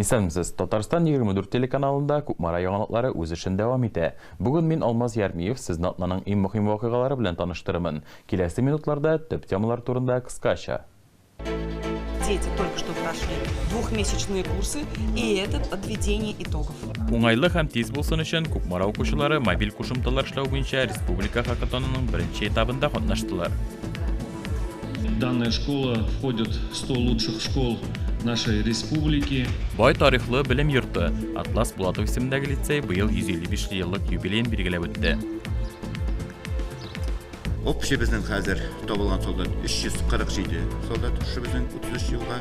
Исәнмесез. Татарстан 24 телеканалында Кукмара яңалыклары үз эшен дәвам итә. Бүген мин Алмаз Ярмиев сезне атнаның иң мөһим вакыйгалары белән таныштырырмын. Киләсе минутларда төп темалар турында кыскача. Дети только что прошли двухмесячные курсы и этот подведение итогов. Уңайлы һәм тиз булсын өчен Кукмара укучылары мобиль кушымталар эшләү буенча республика хакатонының беренче этабында катнаштылар. Данная школа входит в 100 лучших школ нашей республики. Бай тарихлы белем йорты Атлас Булатов исемендәге лицей быел 155 еллык юбилеен билгеләп үтте. Общий безнең хәзер табылган солдат 347 солдат шушы безнең 33 елга.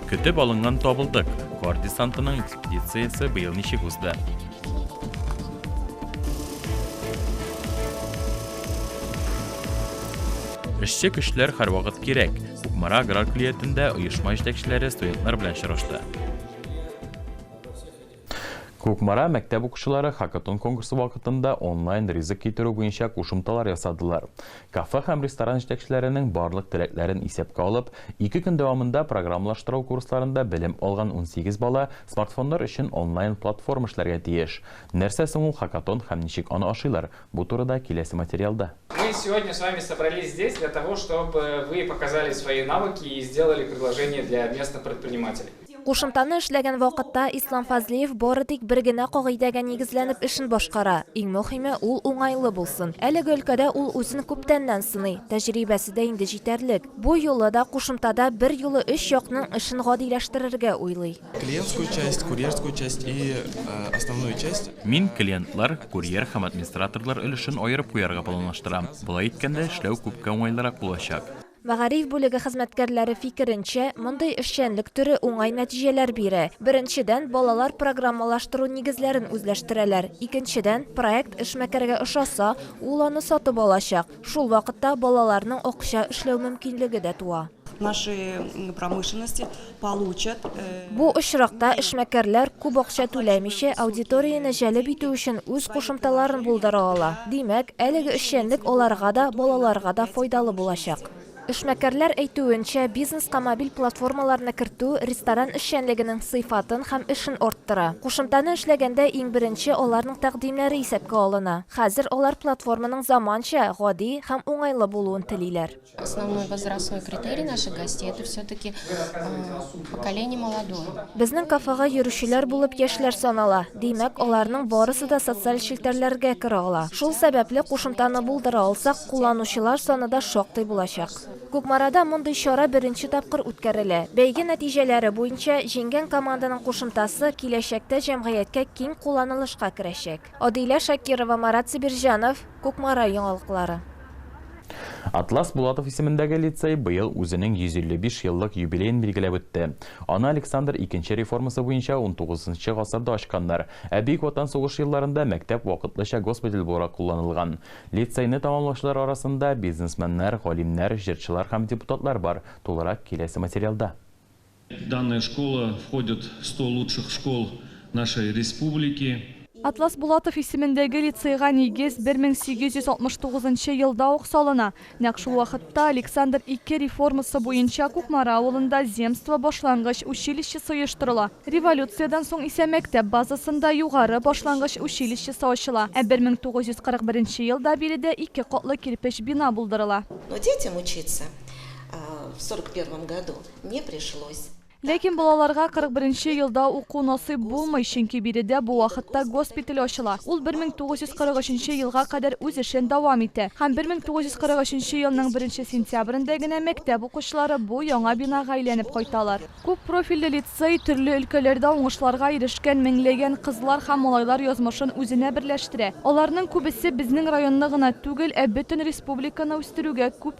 Көтеп алынган табылдык! Кар десантының экспедициясе быел ничек узды? Эшче көчләр һәрвакыт кирәк. Кукмара аграр клиятендә оешма җитәкчеләре студентлар белән очрашты. Кукмара мәктәп укучылары хакатон конкурсы вакытында онлайн ризык китерү буенча кушымталар ясадылар. Кафе һәм ресторан җитәкчеләренең барлык теләкләрен исәпкә алып, ике көн дәвамында программалаштыру курсларында белем алган унсигез бала смартфоннар өчен онлайн платформа эшләргә тиеш. Нәрсә соң ул хакатон һәм ничек аны ашыйлар, бу турыда киләсе материалда. Мы сегодня с вами собрались здесь для того, чтобы вы показали свои навыки и сделали предложение для местных предпринимателей. Кушымтаны эшләгән вакытта Ислам Фазлиев бары тик бер генә кагыйдәгә нигезләнеп эшен башкара, иң мөһиме, ул уңайлы булсын. Әлеге өлкәдә ул үзен күптәннән сыный, тәҗрибәсе дә инде җитәрлек. Бу юлы да кушымтада бер юлы өч якның эшен гадиләштерергә уйлый. Клиентскую часть, курьерскую часть и основную часть. Мин клиентлар, курьер һәм администраторлар өлешен аерып куярга планлаштырам. Болай иткәндә эшләү күпкә уңайлырак булачак. Мәгариф бүлеге хезмәткәрләре фикеренчә, мондый эшчәнлек төре уңай нәтиҗәләр бирә. Беренчедән, балалар программалаштыру нигезләрен үзләштерәләр. Икенчедән, проект эшмәкәргә ошаса, ул аны сатып алачак. Шул вакытта балаларның акча эшләү мөмкинлеге дә туа. Нашей промышленности. Бу очракта эшмәкәрләр, күп акча түләмичә, аудиторияне җәлеп итү өчен үз кушымталарын булдыра ала. Димәк, әлеге эшчәнлек аларга да, балаларга да файдалы булачак. Эшмәкәрләр әйтүенчә, бизнеска мобиль платформаларны кертү ресторан эшчәнлегенең сыйфатын һәм эшен арттыра. Кушымтаны эшләгәндә иң беренче аларның тәкъдимнәре исәпкә алына. Хәзер алар платформаның заманча, гади һәм уңайлы булуын телиләр. Основной возрастной критерий наших гостей это все-таки поколение молодое. Безнең кафега йөрүчеләр булып яшьләр санала. Димәк, аларның барысы да социаль челтәрләргә керә ала. Шул сәбәпле кушымтаны булдыра алсак, кулланучылар саны да шактый булачак. Кукмарада мондый чара беренче тапкыр үткәрелә. Бәйге нәтиҗәләре буенча, җиңгән команданың кушымтасы киләчәктә җәмгыятькә киң кулланылышка керәчәк. Адилә Шакирова, Марат Сибирҗанов, Кукмара яңалыклары. Атлас Булатов исемендәге лицей быел үзенең 155 еллык юбилеен билгеләп үтте. Аны Александр икенче реформасы буенча унтугызынчы гасырда ачканнар, ә Бөек Ватан сугышы елларында мәктәп вакытлыча госпиталь буларак кулланылган. Лицейны тәмамлаучылар арасында бизнесменнар, галимнәр, җырчылар һәм депутатлар бар, тулырак киләсе материалда. Данная школа входит в сто лучших школ нашей республики. Атлас Булатов исемендәге лицейга нигез 1869 елда ук салына. Нәкъ шул вакытта Александр II реформасы буенча Кукмара авылында земство башлангыч училищесы оештырыла. Революциядән соң исә мәктәп базасында югары башлангыч училищесы ачыла, ә 1941 елда биредә ике катлы кирпеч бина булдырыла. Но детям учиться в сорок первом году не пришлось. Ләкин балаларга 41 нче елда уку насыйп булмый, чөнки биредә бу вакытта госпиталь ачыла. Ул 1943 нче елга кадәр үз эшен дәвам итә. Һәм 1943 нче елның беренче сентябрендә генә мәктәп укучылары бу яңа бинага әйләнеп кайталар. Күп профильле лицей, төрле өлкәләрдә уңышларга ирешкән меңләгән кызлар һәм малайлар язмышын үзенә берләштерә. Аларның күбесе безнең районны гына түгел, ә бөтен республиканы үстерүгә күп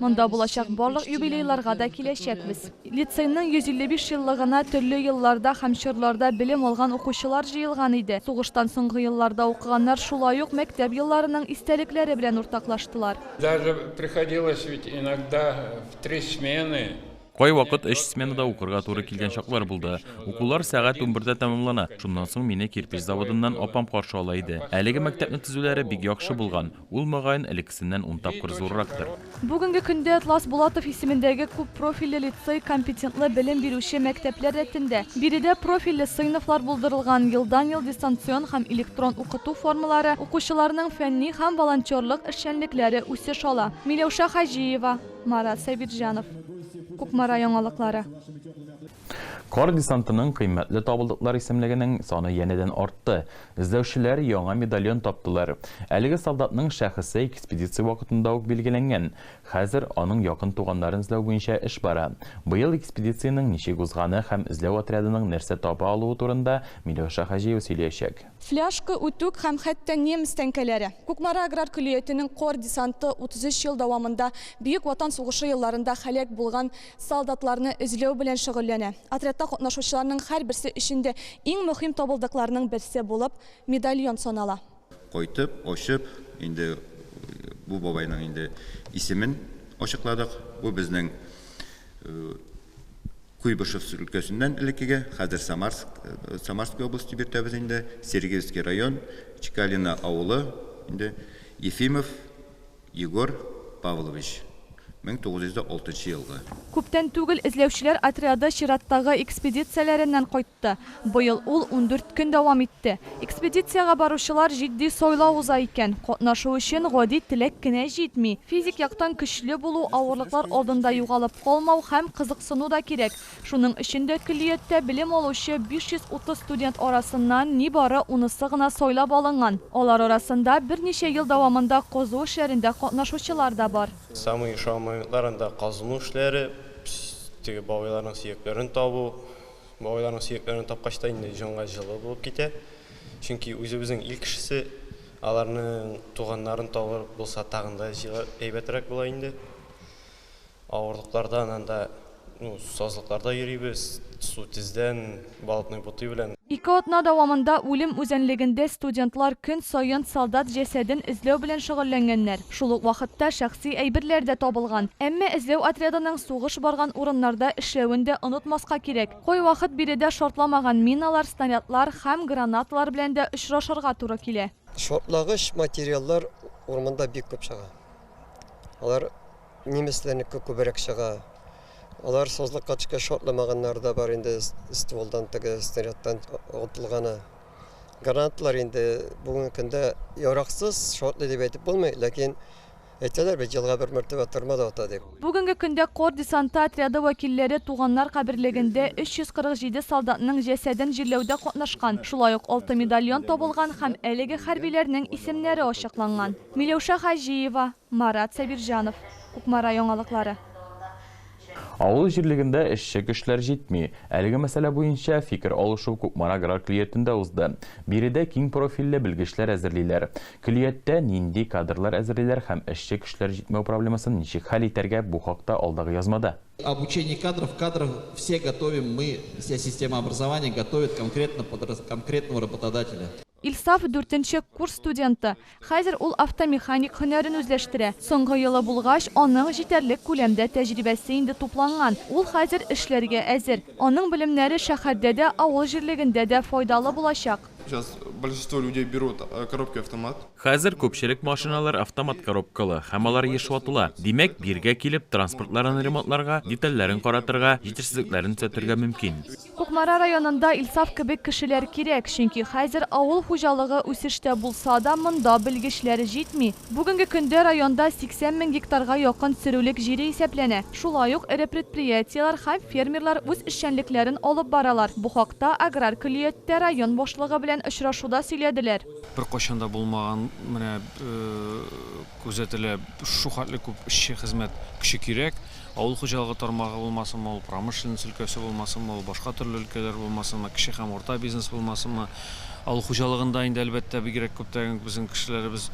Монда булачак барлык юбилейларга да киләчәкбез. Лицейның 155 еллыгына төрле елларда һәм чорларда белем алган укучылар җыелган иде. Сугыштан соңгы елларда укыганнар шулай ук мәктәп елларының истәлекләре белән уртаклаштылар. Даже приходилось ведь иногда в три смены. Кайвакыт өч сменада укырга туры килгән чаклар булды. Укулар сәгать унбердә тәмамлана. Шуннан соң мине кирпеч заводыннан апам каршы ала иде. Әлеге мәктәпне төзүләре бик яхшы булган. Ул, мөгаен, элеккесеннән ун тапкыр зуррактыр. Бүгенге көндә Атлас Булатов исемендәге күп профильле лицей компетентлы белем бирүче мәктәпләр рәтендә. Биредә профильле сыйныфлар булдырылган, елдан-ел дистанцион һәм электрон укыту формалары, укучыларның фәнни һәм волонтерлык эшчәнлекләре үсеш ала. Миләүшә Хаҗиева, Марат Сәйбирҗанов. Кукмара яңалыклары. Кар десантының кыйммәтле табылдыклар исемлегенең саны янәдән артты. Эзләүчеләр яңа медальон таптылар. Әлеге солдатның шәхесе экспедиция вакытында ук билгеләнгән. Хәзер аның якын туганнарын эзләү буенча эш бара. Быел экспедициянең ничек узганы һәм эзләү отрядының нәрсә таба алуы турында Миләүшә Хаҗиева сөйләячәк. Фляшка, үтүк һәм хәтта немец тәңкәләре. Кукмара аграр көллиятенең кор десанты 33 ел дәвамында Бөек Ватан сугышы елларында һәлак булган солдатларны эзләү белән шөгыльләнә. Отрядта катнашучыларның һәрберсе өчен дә иң мөһим табылдыкларның берсе булып медальон санала. Кайтып, ачып, инде бу бабайның инде исемен ачыкладык. Бу безнең Куйбышев өлкәсеннән элеккеге, хәзер Самарск, Самарская область дип йөртәбез инде, Сергиевский район, Чекалино авылы инде, Ефимов. Егор Павлович, 1906 елгы. Күптән түгел эзләүчеләр отряды чираттагы экспедицияләреннән кайтты. Быел ул ундүрт көн дәвам итте. Экспедициягә баручылар җитди сайлау уза икән. Катнашу өчен гади теләк кенә җитми. Физик яктан көчле булу, авырлыклар алдында югалып калмау һәм кызыксыну да кирәк. Шуның өчен дә көллияттә белем алучы 530 студент арасыннан нибары унысы гына сайлап алынган. Алар арасында берничә ел дәвамында казу эшләрендә катнашучылар да бар. Самые ошау моментларында казыну эшләре, теге бабайларның сөякләрен табу. Бабайларның сөякләрен тапкач та инде җанга җылы булып китә. Чөнки үзебезнең ил кешесе, аларның туганнарын табып булса тагын да әйбәтрәк була инде. Авырлыклардан анда ну сазлыкларда йөрибез, су тездән, болотной бутый белән. Ике атна дәвамында үлем үзәнлегендә студентлар көн саен солдат җәсәден эзләү белән шөгыльләнгәннәр. Шул ук вакытта шәхси әйберләр дә табылган. Әмма эзләү отрядының сугыш барган урыннарда эшләвен дә онытмаска кирәк. Кайвакыт биредә шартламаган миналар, снарядлар һәм гранаталар белән дә очрашырга туры килә. Шартлагыч материаллар урманда бик күп чыга. Алар немецләрнеке күбрәк чыга. Алар сазлык качка шартламаганнар да бар инде стволдан теге снарядтан отылганы. Грантлар инде бүгенге көндә яраксыз шартлый дип әйтеп булмый, ләкин әйтәләр бит елга бер мәртәбә тырма да ата дип. Бүгенге көндә кор десанты отряды вәкилләре туганнар каберлегендә 347 солдатның җәсәден җирләүдә катнашкан, шулай ук алты медальон табылган һәм әлеге хәрбиләрнең исемнәре ачыкланган. Миләүшә Хаҗиева, Марат Сабирҗанов, Кукмара яңалыклары. Авыл җирлегендә эшче көчләр җитми. Әлеге мәсьәлә буенча фикер алышу Кукмара аграр көллиятендә узды. Биредә киң профильле белгечләр әзерлиләр. Көллияттә нинди кадрлар әзерлиләр һәм эшче көчләр җитмәү проблемасын ничек хәл итәргә, бу хакта алдагы язмада. Обучение кадров, кадров все готовим мы, вся система образования готовит конкретно под конкретного работодателя. Илсаф, дүртенче курс студенты. Хәзер ул автомеханик һөнәрен үзләштерә. Соңгы елы булгач, аның җитәрлек күләмдә тәҗрибәсе инде тупланган, ул хәзер эшләргә әзер. Аның белемнәре шәһәрдә дә, авыл җирлегендә дә файдалы булачак. Сейчас большинство людей берут коробки автомат. Хәзер күпчелек машиналар автомат коробкалы һәм алар еш ватыла. Димәк, биргә килеп, транспортларын ремонтларга, детальләрен каратырга, җитешсезлекләрен төзәтергә мөмкин. Кукмара районында Илсаф кебек кешеләр кирәк, чөнки хәзер авыл хуҗалыгы үсештә булса да, монда белгечләр җитми. Бүгенге көндә районда 80 мең гектарга якын сөрүлек җире исәпләнә. Шулай ук эре предприятиеләр һәм фермерлар үз эшчәнлекләрен алып баралар. Бу хакта аграр көллияттә район башлыгы белән очрашуда сөйләделәр. Беркайчан да булмаган менә Күзәтелә, шул хәтле күп эшче, хезмәт көче кирәк. Авыл хуҗалыгы тармагы булмасынмы ул, промышленность өлкәсе булмасынмы ул, башка төрле өлкәләр булмасынмы, кече һәм урта бизнес булмасынмы. Авыл хуҗалыгында инде, әлбәттә, бигрәк күптән безнең кешеләребез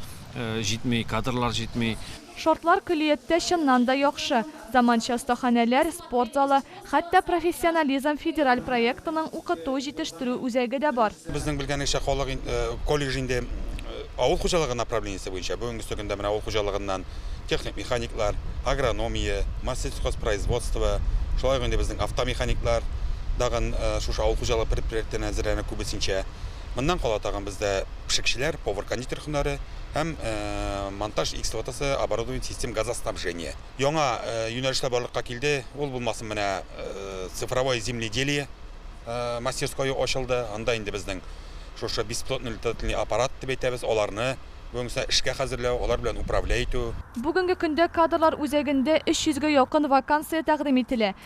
җитми, кадрлар җитми. Шартлар көллияттә чыннан да яхшы. Заманча остаханәләр, спорт залы, Хәтта Профессионализм федераль проектының укыту, җитештерү үзәге дә бар. Безнең белгәнебезчә, халык колледж инде авыл хуҗалыгы направлениесе буенча, бүгенгесе көндә менә авыл хуҗалыгыннан техник механиклар, агрономия, массельсхозпроизводство, шулай ук инде безнең автомеханиклар дагын шушы авыл хуҗалыгы предприятиеләреннән әзерләнә күбесенчә. Моннан кала тагын бездә пешекчеләр, повар-кондитер һөнәре һәм монтаж и эксплуатация оборудования систем газоснабжения. Яңа юнәлешләр барлыкка килде, ул булмасын, менә цифровое земледелие мастерское ачылды, анда инде безнең шушы беспилотный летательный аппарат дип әйтәбез, аларны бүгенге көндә эшкә хәзерләү, алар белән управлять итү. Бүгенге көндә кадрлар үзәгендә 300 гә якын вакансия тәкъдим ителә.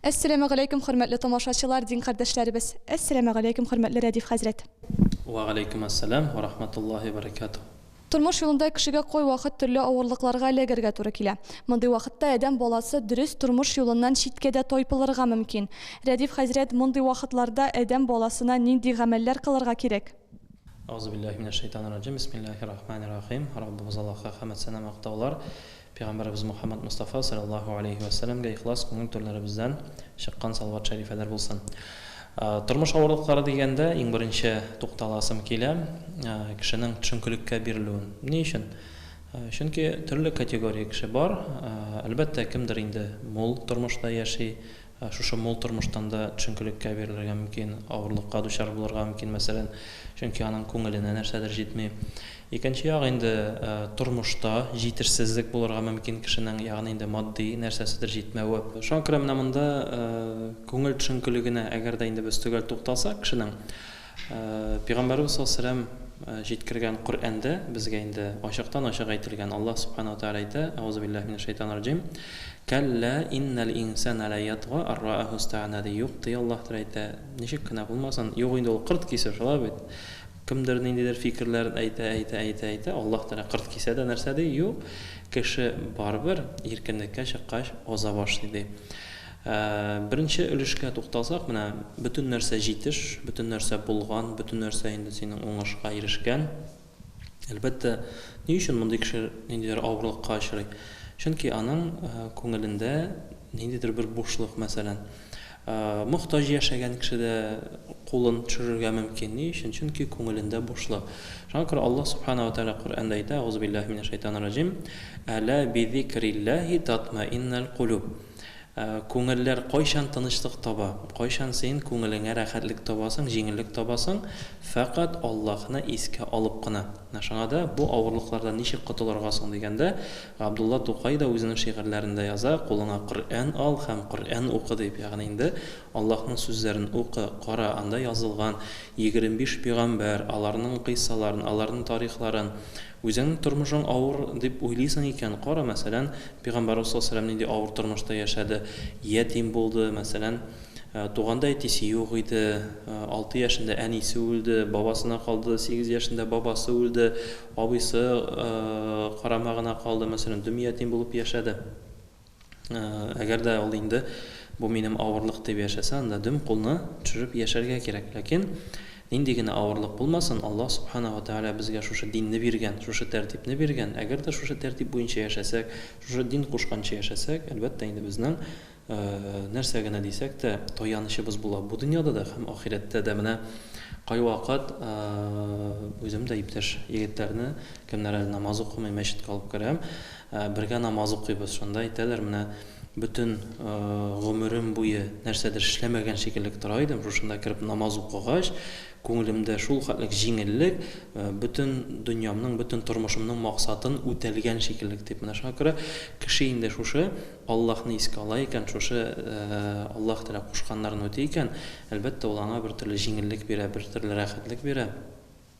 Әссәләмәгаләйкүм хөрмәтле тамашачылар, дин кардәшләребез! Әссәләмәгаләйкүм хөрмәтле Рәдиф хәзрәт! Вәгаләйкүмәссәлам вә рахматуллаһи вә баракатуһ! Тормыш юлында кешегә кай вакыт төрле авырлыкларга эләгергә туры килә. Мондый вакытта адәм баласы дөрес тормыш юлыннан читкә дә тайпылырга мөмкин. Рәдиф хәзрәт, мондый вакытларда адәм баласына нинди гамәлләр кылырга кирәк? Әгъузубиллаһи минәшшәйтанир-раҗим, бисмиллаһир-рахманир-рахим, Раббыбыз Аллаһка хәмәт сана мактаулар, Пәйгамбәребез Мөхәммәд Мостафа салләллаһу аләйһи вә сәләмгә ихлас күңел түрләребездән чыккан салават шәрифәләр булсын. Тормыш авырлыклары дигәндә, иң беренче тукталасым килә, кешенең төшенкелеккә бирелүен. Ни өчен? Чөнки төрле категория кеше бар. Әлбәттә, кемдер инде мул тормышта яши, Ә шушы мул тормыштан да төшенкелеккә бирелергә мөмкин, авырлыкка дучар булырга мөмкин, мәсәлән, чөнки аның күңеленә нәрсәдер җитми. Икенче як инде, тормышта җитешсезлек булырга мөмкин кешенең, ягъни инде матди нәрсәседер җитмәве. Шуңа күрә менә монда күңел төшенкелегенә, әгәр дә инде без төгәл тукталсак, кешенең Пигамбәребез саллаллаһу галәйһи ва сәлләм җиткергән Коръәндә безгә инде ачыктан-ачык әйтелгән, Аллаһ Сүбхәнәһү ва Тәгалә әйтә, Әгъузу билләһи минә шәйтанир раҗим, Кәллә иннәл инсәнә лә ятга ар раәһү стәгънә ди, юк ди, Аллаһ Тәгалә әйтә, ничек кенә булмасын, юк инде ул кырт кисер, шулай бит, кемдер ниндидер фикерләрен әйтә, әйтә, әйтә, әйтә, Аллаһ Тәгалә кырт кисә дә нәрсә ди, юк, кеше барыбер иркенлеккә чыккач аза башлый ди. Ә беренче өлешкә тукталсак, менә бөтен нәрсә җитеш, бөтен нәрсә булган, бөтен нәрсә инде синең уңышка ирешкән. Әлбәттә, ни өчен мондый кеше ниндидер авырлыкка очрый? Чөнки аның күңелендә ниндидер бер бушлык, мәсәлән. Мохтаҗ яшәгән кеше дә кулын төшерергә мөмкин. Ни өчен? Чөнки күңелендә бушлык. Шуңа күрә Аллаһ Субхана ва Тәгалә Коръәндә әйтә, Әгъузубиллаһи минәш шәйтанир раҗим, Әлә бизикриллаһи татмаиннәл кулүб. Күңелләр кайчан тынычлык таба? Кайчан син күңелеңә рәхәтлек табасың, җиңеллек табасың? Фәкать Аллаһны искә алып кына. Менә шуңа да бу авырлыклардан ничек котылырга соң дигәндә, Габдулла Тукай да үзенең шигырьләрендә яза, Кулыңа Коръән ал һәм Коръән укы, дип. Ягъни инде Аллаһның сүзләрен укы, кара, анда язылган егерме биш пөйгамбәр, аларның кыйссаларын, аларның тарихларын, Үзеңнең тормышың авыр дип уйлыйсың икән, кара, мәсәлән, пигамбәрбез саллаллаһу галәйһи ва сәлләм нинди авыр тормышта яшәде, ятим булды, мәсәлән, туганда әтисе юк иде, алты яшендә әнисе үлде, бабасына калды, сигез яшендә бабасы үлде, абыйсы карамагына калды, мәсәлән, дөм ятим булып яшәде. Э, әгәр дә ул инде бу минем авырлык дип яшәсә, анда дөм кулны төшереп яшәргә кирәк. Ләкин нинди генә авырлык булмасын, Аллаһ субхана ва тааля безгә шушы динне биргән, шушы тәртипне биргән. Әгәр дә шушы тәртип буенча яшәсәк, шушы дин кушканча яшәсәк, әлбәттә инде безнең э, нәрсә генә дисәк тә таянычыбыз була. Бу дөньяда да һәм ахирәттә дә менә кайвакыт э, үзем дә иптәш егетләрне, кемнәр әле намаз укымый мәчеткә алып керәм. Бергә намаз укыйбыз, шунда әйтәләр, менә бөтен гомерем буе нәрсәдер эшләмәгән шикеллек тора идем, шушында кереп намаз укыгач, күңелемдә шул хәтлек җиңеллек, бөтен дөньямның, бөтен тормышымның максатын үтәлгән шикеллек дип. Менә шуңа күрә кеше инде шушы Аллаһны искә ала икән, шушы Аллаһ Тәгалә кушканнарын үти икән, әлбәттә, ул аңа бертөрле җиңеллек бирә, бертөрле рәхәтлек бирә.